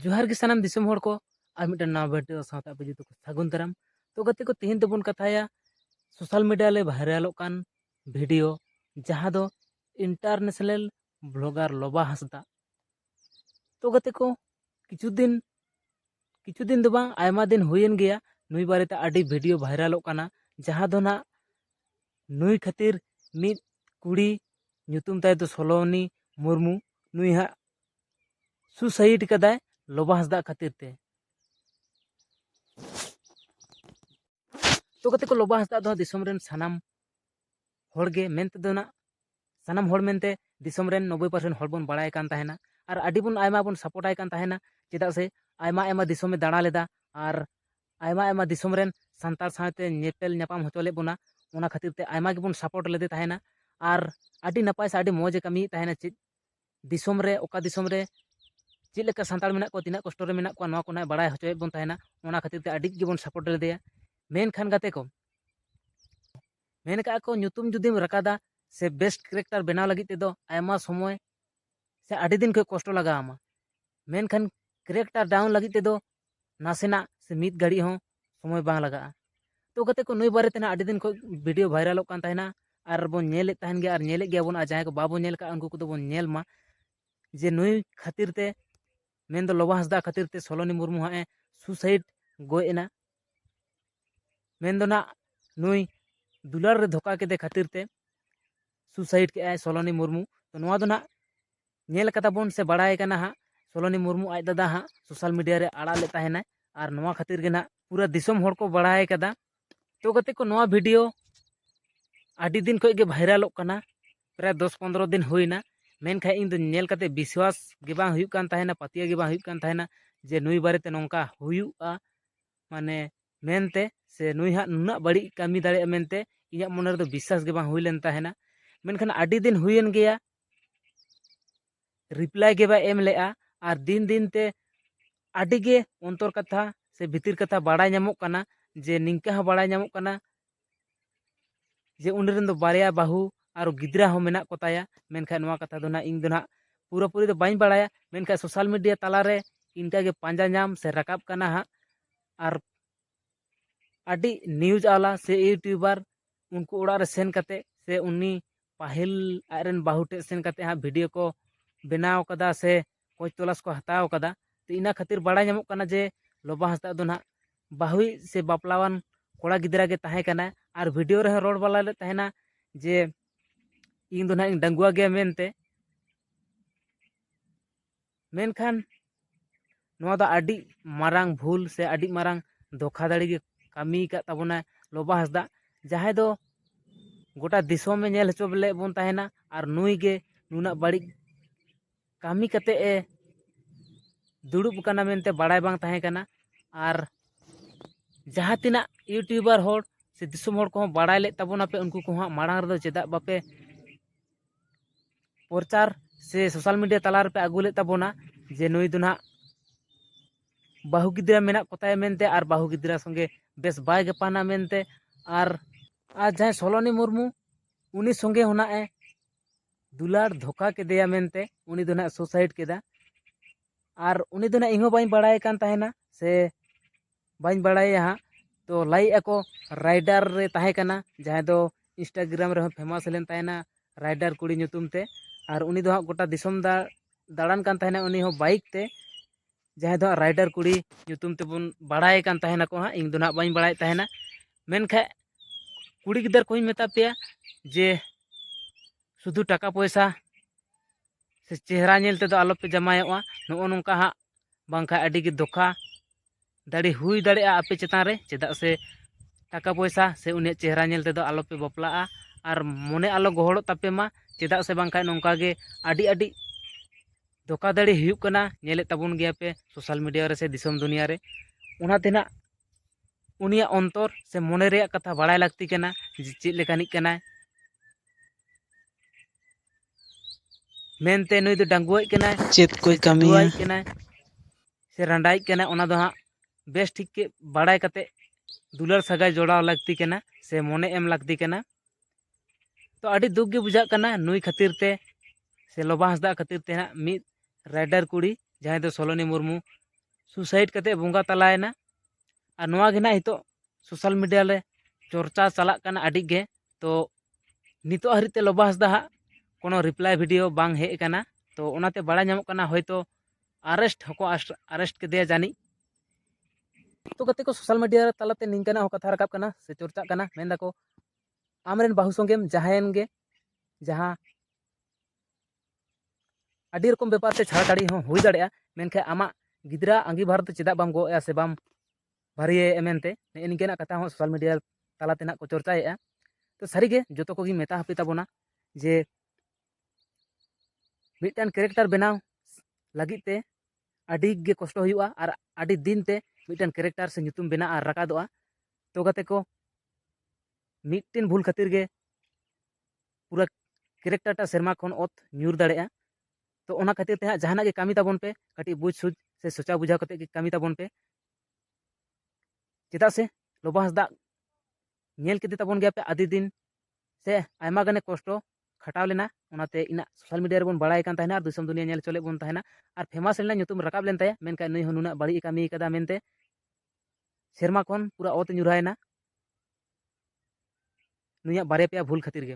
ᱡᱚᱦᱟᱨ ᱜᱮ ᱥᱟᱱᱟᱢ ᱫᱤᱥᱚᱢ ᱦᱚᱲ ᱠᱚ ᱟᱨ ᱢᱤᱫᱴᱟᱝ ᱱᱟᱣᱟ ᱵᱷᱤᱰᱤᱭᱳ ᱥᱟᱶᱛᱮ ᱟᱯᱮ ᱡᱚᱛᱚ ᱠᱚ ᱥᱟᱹᱜᱩᱱ ᱫᱟᱨᱟᱢ ᱛᱚ ᱜᱟᱛᱮ ᱠᱚ ᱛᱮᱦᱮᱧ ᱫᱚᱵᱚᱱ ᱠᱟᱛᱷᱟᱭᱟ ᱥᱳᱥᱟᱞ ᱢᱤᱰᱤᱭᱟ ᱨᱮ ᱵᱷᱟᱭᱨᱟᱞᱚᱜ ᱠᱟᱱ ᱵᱷᱤᱰᱤᱭᱳ ᱡᱟᱦᱟᱸ ᱫᱚ ᱤᱱᱴᱟᱨᱱᱮᱥᱱᱟᱞ ᱵᱞᱚᱜᱟᱨ ᱞᱚᱵᱟ ᱦᱟᱸᱥᱫᱟ ᱛᱚ ᱜᱟᱛᱮ ᱠᱚ ᱠᱤᱪᱷᱩ ᱫᱤᱱ ᱠᱤᱪᱷᱩ ᱫᱤᱱ ᱫᱚ ᱵᱟᱝ ᱟᱭᱢᱟ ᱫᱤᱱ ᱦᱩᱭᱮᱱ ᱜᱮᱭᱟ ᱱᱩᱭ ᱵᱟᱨᱮᱛᱮ ᱟᱹᱰᱤ ᱵᱷᱤᱰᱤᱭᱳ ᱵᱷᱟᱭᱨᱟᱞᱚᱜ ᱠᱟᱱᱟ ᱡᱟᱦᱟᱸ ᱫᱚ ᱱᱟᱜ ᱱᱩᱭ ᱠᱷᱟᱹᱛᱤᱨ ᱢᱤᱫ ᱠᱩᱲᱤ ᱧᱩᱛᱩᱢ ᱛᱟᱭ ᱫᱚ ᱥᱚᱞᱚᱱᱤ ᱢᱩᱨᱢᱩ ᱱᱩᱭ ᱦᱟᱸᱜ ᱥᱩᱥᱟᱭᱤᱰ ᱠᱟᱫᱟᱭ ᱞᱚᱵᱟ ᱦᱟᱸᱥᱫᱟᱜ ᱠᱷᱟᱹᱛᱤᱨ ᱛᱮ ᱛᱚ ᱠᱟᱛᱮ ᱠᱚ ᱞᱚᱵᱟ ᱦᱟᱸᱥᱫᱟᱜ ᱫᱚ ᱫᱤᱥᱚᱢ ᱨᱮᱱ ᱥᱟᱱᱟᱢ ᱦᱚᱲᱜᱮ ᱢᱮᱱᱛᱮᱫᱚ ᱱᱟᱜ ᱥᱟᱱᱟᱢ ᱦᱚᱲ ᱢᱮᱱᱛᱮ ᱫᱤᱥᱚᱢ ᱨᱮᱱ ᱱᱚᱵᱽᱵᱳᱭ ᱯᱟᱨᱥᱮᱱᱴ ᱦᱚᱲ ᱵᱚᱱ ᱵᱟᱲᱟᱭ ᱠᱟᱱ ᱛᱟᱦᱮᱱᱟ ᱟᱨ ᱟᱹᱰᱤ ᱵᱚᱱ ᱟᱭᱢᱟ ᱵᱚᱱ ᱥᱟᱯᱚᱨᱴᱟᱭ ᱠᱟᱱ ᱛᱟᱦᱮᱱᱟ ᱪᱮᱫᱟᱜ ᱥᱮ ᱟᱭᱢᱟ ᱟᱭᱢᱟ ᱫᱤᱥᱚᱢᱮ ᱫᱟᱬᱟ ᱞᱮᱫᱟ ᱟᱨ ᱟᱭᱢᱟ ᱟᱭᱢᱟ ᱫᱤᱥᱚᱢ ᱨᱮᱱ ᱥᱟᱱᱛᱟᱲ ᱥᱟᱶᱛᱮ ᱧᱮᱯᱮᱞ ᱧᱟᱯᱟᱢ ᱦᱚᱪᱚ ᱞᱮᱫ ᱵᱚᱱᱟ ᱚᱱᱟ ᱠᱷᱟᱹᱛᱤᱨ ᱛᱮ ᱟᱭᱢᱟ ᱜᱮᱵᱚᱱ ᱥᱟᱯᱚᱨᱴ ᱞᱮᱫᱮ ᱛᱟᱦᱮᱱᱟ ᱟᱨ ᱟᱹᱰᱤ ᱱᱟᱯᱟᱭ ᱥᱮ ᱟᱹᱰᱤ ᱢᱚᱡᱽ ᱮ ᱠᱟᱹᱢᱤᱭᱮᱫ ᱛᱟᱦᱮᱱᱟ ᱪᱮᱫ ᱫᱤᱥᱚᱢ ᱨᱮ ᱚᱠᱟ ᱫᱤᱥᱚᱢ ᱨᱮ ᱪᱮᱫ ᱞᱮᱠᱟ ᱥᱟᱱᱛᱟᱲ ᱢᱮᱱᱟᱜ ᱠᱚᱣᱟ ᱛᱤᱱᱟᱹᱜ ᱠᱚᱥᱴᱚ ᱨᱮ ᱢᱮᱱᱟᱜ ᱠᱚᱣᱟ ᱱᱚᱣᱟ ᱠᱚ ᱱᱟᱦᱟᱜ ᱵᱟᱲᱟᱭ ᱦᱚᱪᱚᱭᱮᱫ ᱵᱚᱱ ᱛᱟᱦᱮᱱᱟ ᱚᱱᱟ ᱠᱷᱟᱹᱛᱤᱨ ᱛᱮ ᱟᱹᱰᱤ ᱜᱮᱵᱚᱱ ᱥᱟᱯᱳᱨᱴ ᱞᱮᱫᱮᱭᱟ ᱢᱮᱱᱠᱷᱟᱱ ᱜᱟᱛᱮ ᱠᱚ ᱢᱮᱱ ᱠᱟᱜᱼᱟ ᱠᱚ ᱧᱩᱛᱩᱢ ᱡᱩᱫᱤᱢ ᱨᱟᱠᱟᱫᱟ ᱥᱮ ᱵᱮᱥᱴ ᱠᱮᱨᱮᱠᱴᱟᱨ ᱵᱮᱱᱟᱣ ᱞᱟᱹᱜᱤᱫ ᱛᱮᱫᱚ ᱟᱭᱢᱟ ᱥᱚᱢᱚᱭ ᱥᱮ ᱟᱹᱰᱤ ᱫᱤᱱ ᱠᱷᱚᱱ ᱠᱚᱥᱴᱚ ᱞᱟᱜᱟᱣ ᱟᱢᱟ ᱢᱮᱱᱠᱷᱟᱱ ᱠᱮᱨᱮᱠᱴᱟᱨ ᱰᱟᱣᱩᱱ ᱞᱟᱹᱜᱤᱫ ᱛᱮᱫᱚ ᱱᱟᱥᱮᱱᱟᱜ ᱥᱮ ᱢᱤᱫ ᱜᱷᱟᱹᱲᱤᱡ ᱦᱚᱸ ᱥᱚᱢᱚᱭ ᱵᱟᱝ ᱞᱟᱜᱟᱜᱼᱟ ᱛᱚ ᱜᱟᱛᱮ ᱠᱚ ᱱᱩᱭ ᱵᱟᱨᱮᱛᱮ ᱱᱟᱦᱟᱜ ᱟᱹᱰᱤ ᱫᱤᱱ ᱠᱷᱚᱱ ᱵᱷᱤᱰᱤᱭᱳ ᱵᱷᱟᱭᱨᱟᱞᱚᱜ ᱠᱟᱱ ᱛᱟᱦᱮᱱᱟ ᱟᱨ ᱵᱚᱱ ᱧᱮᱞᱮᱫ ᱛᱟᱦᱮᱱ ᱜᱮᱭᱟ ᱟᱨ ᱧᱮᱞᱮᱫ ᱜᱮᱭᱟᱵᱚᱱ ᱟᱨ ᱡᱟᱦᱟᱸᱭ ᱠᱚ ᱵᱟᱵᱚᱱ ᱧᱮᱞ ᱠᱟᱜᱼᱟ ᱩᱱᱠᱩ ᱠᱚᱫᱚ ᱵᱚᱱ ᱧᱮᱞ ᱢᱟ ᱡᱮ ᱱᱩᱭ ᱠᱷᱟᱹᱛᱤᱨ ᱛᱮ ᱢᱮᱱᱫᱚ ᱞᱚᱵᱟ ᱦᱟᱸᱥᱫᱟ ᱠᱷᱟᱹᱛᱤᱨ ᱛᱮ ᱥᱚᱞᱚᱱᱤ ᱢᱩᱨᱢᱩ ᱦᱟᱸᱜ ᱮ ᱥᱩᱥᱟᱭᱤᱰ ᱜᱚᱡ ᱮᱱᱟ ᱢᱮᱱᱫᱚ ᱱᱟᱜ ᱱᱩᱭ ᱫᱩᱞᱟᱹᱲ ᱨᱮ ᱫᱷᱳᱠᱟ ᱠᱮᱫᱮ ᱠᱷᱟᱹᱛᱤᱨ ᱛᱮ ᱥᱩᱥᱟᱭᱤᱰ ᱠᱮᱜᱼᱟᱭ ᱥᱚᱞᱚᱱᱤ ᱢᱩᱨᱢᱩ ᱛᱚ ᱱᱚᱣᱟ ᱫᱚ ᱱᱟᱜ ᱧᱮᱞ ᱠᱟᱫᱟ ᱵᱚᱱ ᱥᱮ ᱵᱟᱲᱟᱭ ᱠᱟᱱᱟ ᱦᱟᱸᱜ ᱥᱚᱞᱚᱱᱤ ᱢᱩᱨᱢᱩ ᱟᱡ ᱫᱟᱫᱟ ᱦᱟᱸᱜ ᱥᱳᱥᱟᱞ ᱢᱤᱰᱤᱭᱟ ᱨᱮ ᱟᱲᱟᱜ ᱞᱮᱫ ᱛᱟᱦᱮᱱᱟᱭ ᱟᱨ ᱱᱚᱣᱟ ᱠᱷᱟᱹᱛᱤᱨ ᱜᱮ ᱱᱟᱜ ᱯᱩᱨᱟᱹ ᱫᱤᱥᱚᱢ ᱦᱚᱲ ᱠᱚ ᱵᱟᱲᱟᱭ ᱠᱟᱫᱟ ᱛᱚ ᱜᱟᱛᱮ ᱠᱚ ᱱᱚᱣᱟ ᱵᱷᱤᱰᱤᱭᱳ ᱟᱹᱰᱤ ᱫᱤᱱ ᱠᱷᱚᱡ ᱜᱮ ᱵᱷᱟᱭᱨᱟᱞᱚᱜ ᱠᱟᱱᱟ ᱯᱨᱟᱭ ᱫᱚᱥ ᱯᱚᱱᱨᱚ ᱫᱤᱱ ᱦᱩᱭᱱᱟ ᱢᱮᱱᱠᱷᱟᱱ ᱤᱧ ᱫᱚ ᱧᱮᱞ ᱠᱟᱛᱮ ᱵᱤᱥᱣᱟᱥ ᱜᱮ ᱵᱟᱝ ᱦᱩᱭᱩᱜ ᱠᱟᱱ ᱛᱟᱦᱮᱱᱟ ᱯᱟᱹᱛᱭᱟᱹᱣ ᱜᱮ ᱵᱟᱝ ᱦᱩᱭᱩᱜ ᱠᱟᱱ ᱛᱟᱦᱮᱱᱟ ᱡᱮ ᱱᱩᱭ ᱵᱟᱨᱮᱛᱮ ᱱᱚᱝᱠᱟ ᱦᱩᱭᱩᱜᱼᱟ ᱢᱟᱱᱮ ᱢᱮᱱᱛᱮ ᱥᱮ ᱱᱩᱭ ᱦᱟᱸᱜ ᱱᱩᱱᱟᱹᱜ ᱵᱟᱹᱲᱤᱡ ᱠᱟᱹᱢᱤ ᱫᱟᱲᱮᱭᱟᱜᱼᱟ ᱢᱮᱱᱛᱮ ᱤᱧᱟᱹᱜ ᱢᱚᱱᱮ ᱨᱮᱫᱚ ᱵᱤᱥᱥᱟᱥ ᱜᱮ ᱵᱟᱝ ᱦᱩᱭ ᱞᱮᱱ ᱛᱟᱦᱮᱱᱟ ᱢᱮᱱᱠᱷᱟᱱ ᱟᱹᱰᱤ ᱫᱤᱱ ᱦᱩᱭᱮᱱ ᱜᱮᱭᱟ ᱨᱤᱯᱞᱟᱭ ᱜᱮ ᱵᱟᱭ ᱮᱢ ᱞᱮᱫᱼᱟ ᱟᱨ ᱫᱤᱱ ᱫᱤᱱ ᱛᱮ ᱟᱹᱰᱤ ᱜᱮ ᱚᱱᱛᱚᱨ ᱠᱟᱛᱷᱟ ᱥᱮ ᱵᱷᱤᱛᱤᱨ ᱠᱟᱛᱷᱟ ᱵᱟᱲᱟᱭ ᱧᱟᱢᱚᱜ ᱠᱟᱱᱟ ᱡᱮ ᱱᱤᱝᱠᱟᱹ ᱦᱚᱸ ᱵᱟᱲᱟᱭ ᱧᱟᱢᱚᱜ ᱠᱟᱱᱟ ᱡᱮ ᱩᱱᱤ ᱨᱮᱱ ᱫᱚ ᱵᱟᱨᱭᱟ ᱵᱟᱹᱦᱩ ᱟᱨ ᱜᱤᱫᱽᱨᱟᱹ ᱦᱚᱸ ᱢᱮᱱᱟᱜ ᱠᱚᱛᱟᱭᱟ ᱢᱮᱱᱠᱷᱟᱱ ᱱᱚᱣᱟ ᱠᱟᱛᱷᱟ ᱫᱚ ᱱᱟᱦᱟᱜ ᱤᱧ ᱫᱚ ᱱᱟᱦᱟᱜ ᱯᱩᱨᱟᱹᱯᱩᱨᱤ ᱫᱚ ᱵᱟᱹᱧ ᱵᱟᱲᱟᱭᱟ ᱢᱮᱱᱠᱷᱟᱱ ᱥᱳᱥᱟᱞ ᱢᱤᱰᱤᱭᱟ ᱛᱟᱞᱟᱨᱮ ᱤᱱᱠᱟᱹᱜᱮ ᱯᱟᱸᱡᱟ ᱧᱟᱢ ᱥᱮ ᱨᱟᱠᱟᱵ ᱠᱟᱱᱟ ᱦᱟᱸᱜ ᱟᱨ ᱟᱹᱰᱤ ᱱᱤᱭᱩᱡᱽ ᱟᱣᱞᱟ ᱥᱮ ᱤᱭᱩᱴᱤᱭᱩᱵᱟᱨ ᱩᱱᱠᱩ ᱚᱲᱟᱜ ᱨᱮ ᱥᱮᱱ ᱠᱟᱛᱮ ᱥᱮ ᱩᱱᱤ ᱯᱟᱹᱦᱤᱞ ᱟᱡᱨᱮᱱ ᱵᱟᱹᱦᱩ ᱴᱷᱮᱱ ᱥᱮᱱ ᱠᱟᱛᱮ ᱦᱟᱸᱜ ᱵᱷᱤᱰᱤᱭᱳ ᱠᱚ ᱵᱮᱱᱟᱣ ᱠᱟᱫᱟ ᱥᱮ ᱠᱚᱪ ᱛᱚᱞᱟᱥ ᱠᱚ ᱦᱟᱛᱟᱣ ᱠᱟᱫᱟ ᱛᱚ ᱤᱱᱟᱹ ᱠᱷᱟᱹᱛᱤᱨ ᱵᱟᱲᱟᱭ ᱧᱟᱢᱚᱜ ᱠᱟᱱᱟ ᱡᱮ ᱞᱚᱵᱟ ᱦᱟᱸᱥᱫᱟ ᱫᱚ ᱱᱟᱦᱟᱜ ᱵᱟᱹᱦᱩᱭ ᱥᱮ ᱵᱟᱯᱞᱟᱣᱟᱱ ᱠᱚᱲᱟ ᱜᱤᱫᱽᱨᱟᱹ ᱜᱮ ᱛᱟᱦᱮᱸ ᱠᱟᱱᱟ ᱟᱨ ᱵᱷᱤᱰᱤᱭᱳ ᱨᱮᱦᱚᱸ ᱨᱚᱲ ᱵᱟᱲᱟ ᱞᱮᱫ ᱛᱟᱦᱮᱱᱟ ᱡᱮ ᱤᱧ ᱫᱚ ᱱᱟᱦᱟᱜ ᱤᱧ ᱰᱟᱺᱜᱩᱣᱟ ᱜᱮᱭᱟ ᱢᱮᱱᱛᱮ ᱢᱮᱱᱠᱷᱟᱱ ᱱᱚᱣᱟ ᱫᱚ ᱟᱹᱰᱤ ᱢᱟᱨᱟᱝ ᱵᱷᱩᱞ ᱥᱮ ᱟᱹᱰᱤ ᱢᱟᱨᱟᱝ ᱫᱷᱳᱠᱟ ᱫᱟᱲᱮ ᱜᱮ ᱠᱟᱹᱢᱤ ᱟᱠᱟᱫ ᱛᱟᱵᱚᱱᱟ ᱞᱚᱵᱟ ᱦᱟᱸᱥᱫᱟ ᱡᱟᱦᱟᱸᱭ ᱫᱚ ᱜᱚᱴᱟ ᱫᱤᱥᱚᱢᱮ ᱧᱮᱞ ᱦᱚᱪᱚ ᱞᱮᱫ ᱵᱚᱱ ᱛᱟᱦᱮᱱᱟ ᱟᱨ ᱱᱩᱭ ᱜᱮ ᱱᱩᱱᱟᱹᱜ ᱵᱟᱹᱲᱤᱡ ᱠᱟᱹᱢᱤ ᱠᱟᱛᱮ ᱮ ᱫᱩᱲᱩᱵ ᱟᱠᱟᱱᱟ ᱢᱮᱱᱛᱮ ᱵᱟᱲᱟᱭ ᱵᱟᱝ ᱛᱟᱦᱮᱸ ᱠᱟᱱᱟ ᱟᱨ ᱡᱟᱦᱟᱸ ᱛᱤᱱᱟᱹᱜ ᱤᱭᱩᱴᱤᱭᱩᱵᱟᱨ ᱦᱚᱲ ᱥᱮ ᱫᱤᱥᱚᱢ ᱦᱚᱲ ᱠᱚᱦᱚᱸ ᱵᱟᱲᱟᱭ ᱞᱮᱫ ᱛᱟᱵᱚᱱᱟᱯᱮ ᱩᱱᱠᱩ ᱠᱚᱦᱚᱸ ᱢᱟᱲᱟᱝ ᱨᱮᱫᱚ ᱪᱮᱫᱟᱜ ᱵᱟᱯᱮ ᱯᱨᱚᱪᱟᱨ ᱥᱮ ᱥᱳᱥᱟᱞ ᱢᱤᱰᱤᱭᱟ ᱛᱟᱞᱟ ᱨᱮᱯᱮ ᱟᱹᱜᱩ ᱞᱮᱫ ᱛᱟᱵᱚᱱᱟ ᱡᱮ ᱱᱩᱭ ᱫᱚ ᱱᱟᱦᱟᱜ ᱵᱟᱹᱦᱩ ᱜᱤᱫᱽᱨᱟᱹ ᱢᱮᱱᱟᱜ ᱠᱚᱛᱟᱭᱟ ᱢᱮᱱᱛᱮ ᱟᱨ ᱵᱟᱹᱦᱩ ᱜᱤᱫᱽᱨᱟᱹ ᱥᱚᱸᱜᱮ ᱵᱮᱥ ᱵᱟᱭ ᱜᱟᱯᱟᱱᱟ ᱢᱮᱱᱛᱮ ᱟᱨ ᱟᱨ ᱡᱟᱦᱟᱸᱭ ᱥᱚᱞᱚᱱᱤ ᱢᱩᱨᱢᱩ ᱩᱱᱤ ᱥᱚᱸᱜᱮ ᱦᱚᱸ ᱱᱟᱦᱟᱜ ᱮ ᱫᱩᱞᱟᱲ ᱫᱷᱚᱠᱟ ᱠᱮᱫᱮᱭᱟ ᱢᱮᱱᱛᱮ ᱩᱱᱤ ᱫᱚ ᱱᱟᱜ ᱥᱩᱥᱟᱭᱤᱰ ᱠᱮᱫᱟ ᱟᱨ ᱩᱱᱤ ᱫᱚ ᱱᱟᱜ ᱤᱧᱦᱚᱸ ᱵᱟᱹᱧ ᱵᱟᱲᱟᱭ ᱠᱟᱱ ᱛᱟᱦᱮᱱᱟ ᱥᱮ ᱵᱟᱹᱧ ᱵᱟᱲᱟᱭᱟ ᱦᱟᱸᱜ ᱛᱚ ᱞᱟᱹᱭᱮᱫ ᱟᱠᱚ ᱨᱟᱭᱰᱟᱨ ᱨᱮ ᱛᱟᱦᱮᱸ ᱠᱟᱱᱟ ᱡᱟᱦᱟᱸᱭ ᱫᱚ ᱤᱱᱥᱴᱟᱜᱨᱟᱢ ᱨᱮᱦᱚᱸ ᱯᱷᱮᱢᱟᱥ ᱞᱮᱱ ᱛᱟᱦᱮᱱᱟ ᱨᱟᱭᱰᱟᱨ ᱠᱩᱲᱤ ᱧᱩᱛᱩᱢ ᱛᱮ ᱟᱨ ᱩᱱᱤ ᱫᱚ ᱦᱟᱸᱜ ᱜᱚᱴᱟ ᱫᱤᱥᱚᱢ ᱫᱟᱬᱟᱱ ᱠᱟᱱ ᱛᱟᱦᱮᱱᱟ ᱩᱱᱤ ᱦᱚᱸ ᱵᱟᱭᱤᱠ ᱛᱮ ᱡᱟᱦᱟᱸᱭ ᱫᱚ ᱦᱟᱸᱜ ᱨᱟᱭᱰᱟᱨ ᱠᱩᱲᱤ ᱧᱩᱛᱩᱢ ᱛᱮᱵᱚᱱ ᱵᱟᱲᱟᱭ ᱠᱟᱱ ᱛᱟᱦᱮᱱᱟᱠᱚ ᱦᱟᱸᱜ ᱤᱧ ᱫᱚ ᱦᱟᱸᱜ ᱵᱟᱹᱧ ᱵᱟᱲᱟᱭᱮᱫ ᱛᱟᱦᱮᱱᱟ ᱢᱮᱱᱠᱷᱟᱡ ᱠᱩᱲᱤ ᱜᱤᱫᱟᱹᱨ ᱠᱚᱧ ᱢᱮᱛᱟ ᱯᱮᱭᱟ ᱡᱮ ᱥᱩᱫᱷᱩ ᱴᱟᱠᱟ ᱯᱚᱭᱥᱟ ᱥᱮ ᱪᱮᱦᱨᱟ ᱧᱮᱞ ᱛᱮᱫᱚ ᱟᱞᱚᱯᱮ ᱡᱟᱢᱟᱭᱚᱜᱼᱟ ᱱᱚᱜᱼᱚ ᱱᱚᱝᱠᱟ ᱦᱟᱸᱜ ᱵᱟᱝᱠᱷᱟᱡ ᱟᱹᱰᱤ ᱜᱮ ᱫᱷᱳᱠᱟ ᱫᱟᱲᱮ ᱦᱩᱭ ᱫᱟᱲᱮᱭᱟᱜᱼᱟ ᱟᱯᱮ ᱪᱮᱛᱟᱱ ᱨᱮ ᱪᱮᱫᱟᱜ ᱥᱮ ᱴᱟᱠᱟ ᱯᱚᱭᱥᱟ ᱥᱮ ᱩᱱᱤᱭᱟᱜ ᱪᱮᱦᱨᱟ ᱧᱮᱞ ᱛᱮᱫᱚ ᱟᱞᱚᱯᱮ ᱵᱟᱯᱞᱟᱜᱼᱟ ᱟᱨ ᱢᱚᱱᱮ ᱟᱞᱚ ᱜᱚᱦᱚᱲᱚᱜ ᱛᱟᱯᱮ ᱢᱟ ᱪᱮᱫᱟᱜ ᱥᱮ ᱵᱟᱝᱠᱷᱟᱡ ᱱᱚᱝᱠᱟ ᱜᱮ ᱟᱹᱰᱤ ᱟᱹᱰᱤ ᱫᱷᱳᱠᱟ ᱫᱷᱟᱹᱲᱤ ᱦᱩᱭᱩᱜ ᱠᱟᱱᱟ ᱧᱮᱞᱮᱫ ᱛᱟᱵᱚᱱ ᱜᱮᱭᱟ ᱯᱮ ᱥᱳᱥᱟᱞ ᱢᱤᱰᱤᱭᱟ ᱨᱮᱥᱮ ᱫᱤᱥᱚᱢ ᱫᱩᱱᱤᱭᱟᱹ ᱨᱮ ᱚᱱᱟ ᱛᱮᱱᱟᱜ ᱩᱱᱤᱭᱟᱜ ᱚᱱᱛᱚᱨ ᱥᱮ ᱢᱚᱱᱮ ᱨᱮᱭᱟᱜ ᱠᱟᱛᱷᱟ ᱵᱟᱲᱟᱭ ᱞᱟᱹᱠᱛᱤ ᱠᱟᱱᱟ ᱡᱮ ᱪᱮᱫ ᱞᱮᱠᱟᱱᱤᱡ ᱠᱟᱱᱟᱭ ᱢᱮᱱᱛᱮ ᱱᱩᱭ ᱫᱚ ᱰᱟᱺᱜᱩᱣᱟᱹᱭᱤᱡ ᱠᱟᱱᱟᱭ ᱪᱮᱫ ᱠᱚᱭ ᱠᱟᱹᱢᱤᱭᱟ ᱠᱟᱱᱟᱭ ᱥᱮ ᱨᱟᱸᱰᱟᱭᱤᱡ ᱠᱟᱱᱟᱭ ᱚᱱᱟ ᱫᱚ ᱦᱟᱸᱜ ᱵᱮᱥ ᱴᱷᱤᱠ ᱜᱮ ᱵᱟᱲᱟᱭ ᱠᱟᱛᱮ ᱫᱩᱞᱟᱹᱲ ᱥᱟᱹᱜᱟᱹᱭ ᱡᱚᱲᱟᱣ ᱞᱟᱹᱠᱛᱤ ᱠᱟᱱᱟ ᱥᱮ ᱢᱚᱱᱮ ᱮᱢ ᱞᱟᱹᱠᱛᱤ ᱠᱟᱱᱟ ᱛᱚ ᱟᱹᱰᱤ ᱫᱩᱠ ᱜᱮ ᱵᱩᱡᱷᱟᱹᱜ ᱠᱟᱱᱟ ᱱᱩᱭ ᱠᱷᱟᱹᱛᱤᱨ ᱛᱮ ᱥᱮ ᱞᱚᱵᱟ ᱦᱟᱸᱥᱫᱟ ᱠᱷᱟᱹᱛᱤᱨ ᱛᱮ ᱦᱟᱸᱜ ᱢᱤᱫ ᱨᱟᱭᱰᱟᱨ ᱠᱩᱲᱤ ᱡᱟᱦᱟᱸᱭ ᱫᱚ ᱥᱚᱞᱚᱱᱤ ᱢᱩᱨᱢᱩ ᱥᱩᱥᱟᱭᱤᱰ ᱠᱟᱛᱮᱫ ᱵᱚᱸᱜᱟ ᱛᱟᱞᱟᱭᱮᱱᱟ ᱟᱨ ᱱᱚᱣᱟ ᱜᱮ ᱱᱟᱦᱟᱜ ᱱᱤᱛᱚᱜ ᱥᱳᱥᱟᱞ ᱢᱤᱰᱤᱭᱟ ᱨᱮ ᱪᱚᱨᱪᱟ ᱪᱟᱞᱟᱜ ᱠᱟᱱᱟ ᱟᱹᱰᱤ ᱜᱮ ᱛᱚ ᱱᱤᱛᱚᱜ ᱦᱟᱹᱨᱤᱡ ᱛᱮ ᱞᱚᱵᱟ ᱦᱟᱸᱥᱫᱟ ᱦᱟᱸᱜ ᱠᱳᱱᱳ ᱨᱤᱯᱞᱟᱭ ᱵᱷᱤᱰᱤᱭᱳ ᱵᱟᱝ ᱦᱮᱡ ᱟᱠᱟᱱᱟ ᱛᱚ ᱚᱱᱟᱛᱮ ᱵᱟᱲᱟᱭ ᱧᱟᱢᱚᱜ ᱠᱟᱱᱟ ᱦᱳᱭᱛᱳ ᱟᱨᱮᱥᱴ ᱦᱚᱸᱠᱚ ᱟᱨᱮᱥᱴ ᱠᱮᱫᱮᱭᱟ ᱡᱟᱹᱱᱤᱡ ᱛᱚ ᱜᱟᱛᱮ ᱠᱚ ᱥᱳᱥᱟᱞ ᱢᱤᱰᱤᱭᱟ ᱛᱟᱞᱟᱛᱮ ᱱᱤᱝᱠᱟᱱᱟᱜ ᱦᱚᱸ ᱠᱟᱛᱷᱟ ᱨᱟᱠᱟᱵ ᱠᱟᱱᱟ ᱥᱮ ᱪᱚᱨᱪᱟᱜ ᱠᱟᱱᱟ ᱢᱮᱱ ᱫᱟᱠᱚ ᱟᱢᱨᱮᱱ ᱵᱟᱹᱦᱩ ᱥᱚᱸᱜᱮᱢ ᱡᱟᱦᱟᱸᱭᱮᱱ ᱜᱮ ᱡᱟᱦᱟᱸ ᱟᱹᱰᱤ ᱨᱚᱠᱚᱢ ᱵᱮᱯᱟᱨ ᱛᱮ ᱪᱷᱟᱲᱟ ᱪᱷᱟᱹᱲᱤ ᱦᱚᱸ ᱦᱩᱭ ᱫᱟᱲᱮᱭᱟᱜᱼᱟ ᱢᱮᱱᱠᱷᱟᱱ ᱟᱢᱟᱜ ᱜᱤᱫᱽᱨᱟᱹ ᱟᱸᱜᱤᱵᱷᱟᱨ ᱫᱚ ᱪᱮᱫᱟᱜ ᱵᱟᱢ ᱜᱚᱜ ᱮᱜᱼᱟ ᱥᱮ ᱵᱟᱢ ᱵᱷᱟᱹᱨᱤᱭᱮ ᱢᱮᱱᱛᱮ ᱱᱮᱜᱼᱮ ᱱᱤᱝᱠᱟᱹᱱᱟᱜ ᱠᱟᱛᱷᱟ ᱦᱚᱸ ᱥᱳᱥᱟᱞ ᱢᱤᱰᱤᱭᱟ ᱛᱟᱞᱟᱛᱮ ᱱᱟᱜ ᱠᱚ ᱪᱚᱨᱪᱟᱭᱮᱫᱼᱟ ᱛᱚ ᱥᱟᱹᱨᱤᱜᱮ ᱡᱚᱛᱚ ᱠᱚᱜᱮ ᱢᱮᱛᱟ ᱦᱟᱯᱮ ᱛᱟᱵᱚᱱᱟ ᱡᱮ ᱢᱤᱫᱴᱟᱱ ᱠᱮᱨᱮᱠᱴᱟᱨ ᱵᱮᱱᱟᱣ ᱞᱟᱹᱜᱤᱫ ᱛᱮ ᱟᱹᱰᱤ ᱜᱮ ᱠᱚᱥᱴᱚ ᱦᱩᱭᱩᱜᱼᱟ ᱟᱨ ᱟᱹᱰᱤ ᱫᱤᱱ ᱛᱮ ᱢᱤᱫᱴᱮᱱ ᱠᱮᱨᱮᱠᱴᱟᱨ ᱥᱮ ᱧᱩᱛᱩᱢ ᱵᱮᱱᱟᱜᱼᱟ ᱟᱨ ᱨᱟᱠᱟᱫᱚᱜᱼᱟ ᱛᱚ ᱜᱟᱛᱮ ᱠᱚ ᱢᱤᱫᱴᱮᱱ ᱵᱷᱩᱞ ᱠᱷᱟᱹᱛᱤᱨ ᱜᱮ ᱯᱩᱨᱟᱹ ᱠᱮᱨᱮᱠᱴᱟᱨᱴᱟᱜ ᱥᱮᱨᱢᱟ ᱠᱷᱚᱱ ᱚᱛ ᱧᱩᱨ ᱫᱟᱲᱮᱭᱟᱜᱼᱟ ᱛᱚ ᱚᱱᱟ ᱠᱷᱟᱹᱛᱤᱨ ᱛᱮ ᱦᱟᱸᱜ ᱡᱟᱦᱟᱱᱟᱜ ᱜᱮ ᱠᱟᱹᱢᱤ ᱛᱟᱵᱚᱱ ᱯᱮ ᱠᱟᱹᱴᱤᱡ ᱵᱩᱡᱽ ᱥᱩᱡᱽ ᱥᱮ ᱥᱚᱪᱟᱣ ᱵᱩᱡᱷᱟᱹᱣ ᱠᱟᱛᱮ ᱜᱮ ᱠᱟᱹᱢᱤ ᱛᱟᱵᱚᱱ ᱯᱮ ᱪᱮᱫᱟᱜ ᱥᱮ ᱞᱚᱵᱚ ᱦᱟᱸᱥᱫᱟᱜ ᱧᱮᱞ ᱠᱮᱫᱮ ᱛᱟᱵᱚᱱ ᱜᱮᱭᱟᱯᱮ ᱟᱹᱰᱤ ᱫᱤᱱ ᱥᱮ ᱟᱭᱢᱟ ᱜᱟᱱᱮ ᱠᱚᱥᱴᱚ ᱠᱷᱟᱴᱟᱣ ᱞᱮᱱᱟ ᱚᱱᱟᱛᱮ ᱤᱱᱟᱹᱜ ᱥᱳᱥᱟᱞ ᱢᱤᱰᱤᱭᱟ ᱨᱮᱵᱚᱱ ᱵᱟᱲᱟᱭ ᱠᱟᱱ ᱛᱟᱦᱮᱱᱟ ᱟᱨ ᱫᱤᱥᱚᱢ ᱫᱩᱱᱤᱭᱟᱹ ᱧᱮᱞ ᱦᱚᱪᱚ ᱞᱮᱫ ᱵᱚᱱ ᱛᱟᱦᱮᱱᱟ ᱟᱨ ᱯᱷᱮᱢᱟᱥ ᱨᱮᱱᱟᱜ ᱧᱩᱛᱩᱢ ᱨᱟᱠᱟᱵ ᱞᱮᱱ ᱛᱟᱭᱟ ᱢᱮᱱᱠᱷᱟᱱ ᱱᱩᱭ ᱦᱚᱸ ᱱᱩᱱᱟᱹᱜ ᱵᱟᱹᱲᱤᱡ ᱮ ᱠᱟᱹᱢᱤ ᱠᱟᱫᱟ ᱢᱮᱱᱛᱮ ᱥᱮᱨᱢᱟ ᱠᱷᱚᱱ ᱯᱩᱨᱟᱹ ᱚᱛ ᱧᱩᱨᱦᱟᱭᱮᱱᱟ ᱱᱩᱭᱟᱜ ᱵᱟᱨᱭᱟ ᱯᱮᱭᱟ ᱵᱷᱩᱞ ᱠᱷᱟᱹᱛᱤᱨ ᱜᱮ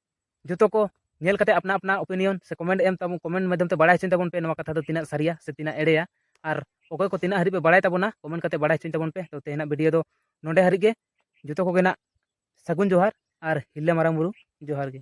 ᱡᱚᱛᱚ ᱠᱚ ᱧᱮᱞ ᱠᱟᱛᱮ ᱟᱯᱱᱟ ᱟᱯᱱᱟ ᱚᱯᱤᱱᱤᱭᱚᱱ ᱥᱮ ᱠᱚᱢᱮᱱᱴ ᱮᱢ ᱛᱟᱵᱚᱱ ᱠᱚᱢᱮᱱᱴ ᱢᱟᱫᱽᱫᱷᱚᱢ ᱛᱮ ᱵᱟᱲᱟᱭ ᱦᱚᱪᱚᱧ ᱛᱟᱵᱚᱱ ᱯᱮ ᱱᱚᱣᱟ ᱠᱟᱛᱷᱟ ᱫᱚ ᱛᱤᱱᱟᱹᱜ ᱥᱟᱹᱨᱤᱭᱟ ᱥᱮ ᱛᱤᱱᱟᱹᱜ ᱮᱲᱮᱭᱟ ᱟᱨ ᱚᱠᱚᱭ ᱠᱚ ᱛᱤᱱᱟᱹᱜ ᱦᱟᱹᱨᱤᱡ ᱯᱮ ᱵᱟᱲᱟᱭ ᱛᱟᱵᱚᱱᱟ ᱠᱚᱢᱮᱱᱴ ᱠᱟᱛᱮ ᱵᱟᱲᱟᱭ ᱦᱚᱪᱚᱧ ᱛᱟᱵᱚᱱ ᱯᱮ ᱛᱚ ᱛᱮᱦᱮᱧᱟᱜ ᱵᱷᱤᱰᱤᱭᱳ ᱫᱚ ᱱᱚᱰᱮ ᱦᱟᱹᱨᱤᱡ ᱜᱮ ᱡᱚᱛᱚ ᱠᱚᱜᱮ ᱱᱟᱜ ᱥᱟᱹᱜᱩᱱ ᱡᱚᱦᱟᱨ ᱟᱨ ᱦᱤᱞᱞᱟᱹ ᱢᱟᱨᱟᱝ ᱵᱩᱨᱩ ᱡᱚᱦᱟᱨ ᱜᱮ